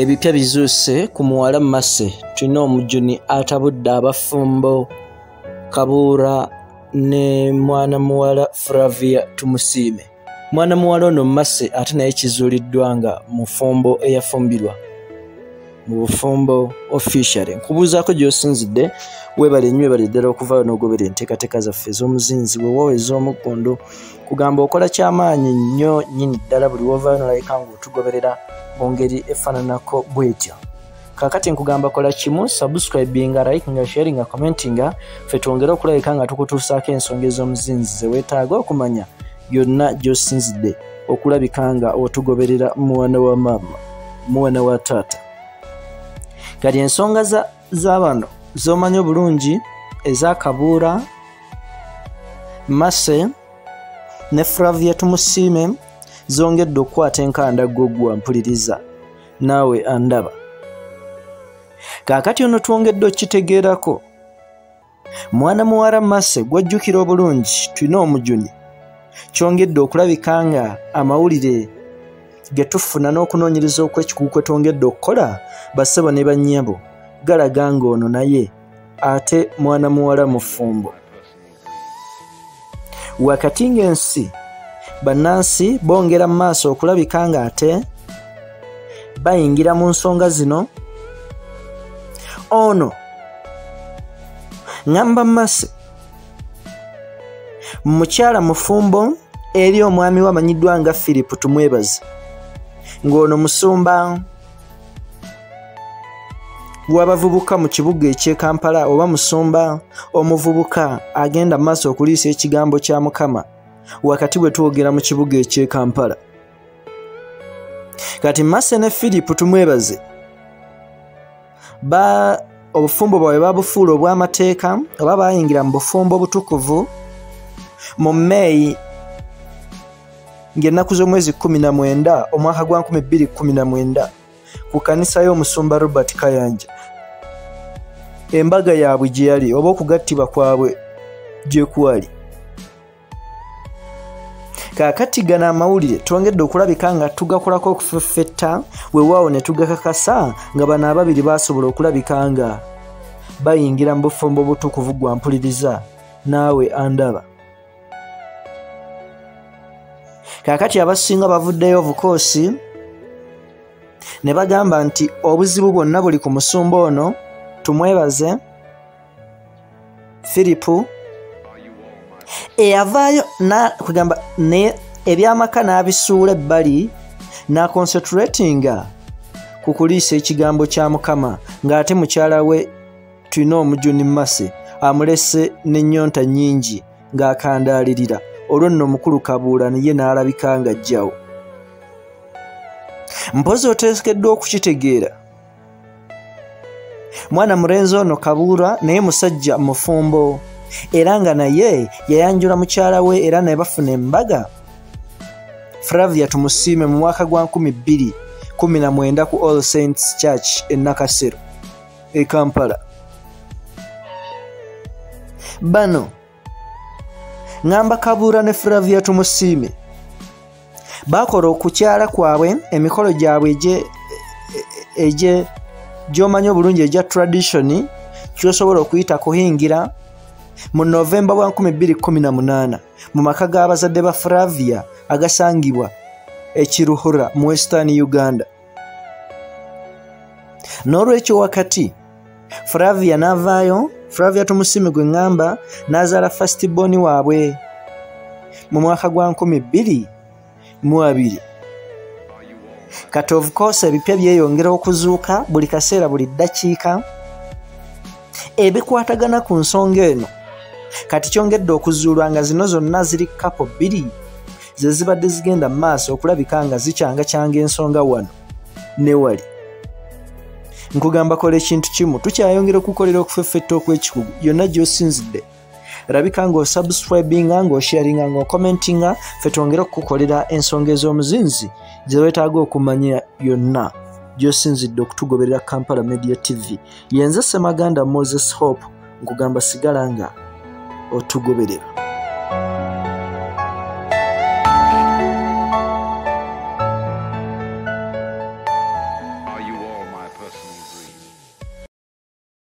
ebipya bizuuse ku muwala mase tulina omujuni atabudde abafumbo kabuura ne mwana muwala fravia tumusiime mwana muwala ono mase ate naye kizuuliddwa nga mufumbo eyafumbirwa mu bufumbo officially nkubuuzaako gy'osinzidde weebale nnyo ebale ddala okuvaayo n'ogobera enteekateeka zaffe ez'omuzinzi weewaawo ez'omuggundu kugamba okola ky'amaanyi nnyo nnyini ddala buli woovaayo nolabika ng'otugoberera mu ngeri efaananako bwetyo kakati nkugamba kola kimu subscribinga likinga sharinga commentinga fe twongere okulabika nga tukutuusaako ensonga ez'omuzinzi ze weetaaga okumanya yonna gy'osinzidde okulabika nga otugoberera mwana wa maama mwana wa taata kati ensonga z'abano z'omanyi obulungi eza kabuura mase ne flavia tumusiime zongedde okukwata enkanda gogwa mpuliriza naawe andaba kaakati ono twongedde okukitegeerako mwana muwala mase gwajjukira obulungi tulina omujuni kyongedde okulabika nga amawulire ge tufuna n'okunoonyereza okw'ekikugu kwe twongedde okukola basebo ne bannyabo galaga ng'ono naye ate mwana muwala mufumbo wakati ng'ensi bannansi bongera mu maaso okulabika ng'ate bayingira mu nsonga zino ono ŋamba masi mukyala mufumbo eri omwami we amanyiddwa nga philip tumwebaze ng'ono musumba w'abavubuka mu kibuga eky'e Kampala oba musumba omuvubuka agenda mu maaso okuliisa ekigambo kya Mukama wakati we twogera mu kibuga eky'e Kampala. Kati Mase ne Philip tumwebaze ba obufumbo bwabwe babufuula obw'amateeka oba baayingira mu bufumbo obutukuvu mu May ng'ennaku z'omwezi kumi na mwenda omwaka gwa nkumi bbiri kumi na mwenda ku kanisa y'omusumba robert kayanja embaga yaabwe gye yali oba okugattibwa kwabwe gye kwali kaakati gano amawulire twongedde okulabika nga tugakolako okufeffetta wewaawo ne tugakakasa nga bano ababiri baasobola okulabika nga bayingira mu bufumbo obutukuvu gwa mpuliriza naawe andaba kaakati abasinga bavuddeyo obukoosi ne bagamba nti obuzibu bwonna buli ku musumba ono tumwebaze firipu eyavaayo kugamba naye ebyamaka n'abisuula ebbali n'akonsetratinga ku kuliisa ekigambo kya mukama ng'ate mukyala we tulina omujuni mase amulese n'ennyonta nnyingi ng'akandaalirira olwo nno omukulu kabuula naye n'alabika nga jjawo mpozi oteekeddwa okukitegeera mwana murenzi ono kabuura naye musajja mufumbo era nga naye yayanjula mukyala we era naye bafuna embaga fravia tumusiime mu mwaka gwa 219 ku all saints church enakasero e kampala bano ngamba kabuura ne flavia tumusiime bakola okukyala kwabwe emikolo gyabwe egye gyomanyi obulungi egya tradition kyosobola okuyita kuhingira mu novemba wa 218 mu maka g'abazadde ba flavia agasangibwa ekiruhura mu western uganda n'olwekyo wakati flavia n'avaayo flavia tumusimi gwe ŋŋamba n'azaala fasiti boni waabwe mu mwaka gwa nkumi bbiri mu abiri kati of course ebipya byeyongera okuzuuka buli kaseera buli ddakiika ebikwatagana ku nsonga eno kati kyongedde okuzuulwa nga zino zonna ziri kapo bbiri ze zibadde zigenda mu maaso okulabika nga zikyangakyanga ensonga wano ne wali nkugamba kola ekintu kimu tukyayongera okukolera okufeffetta okw'ekikugu yonna gy'osinzidde rabika nga osubscribinga nga osharinga nga okomentinga fe twongere okukukolera ensonga ez'omuzinzi gyewetaaga okumanya yonna gyosinzidde okutugoberera kampala media tv yenze semaganda moses hope nkugamba sigala nga otugoberera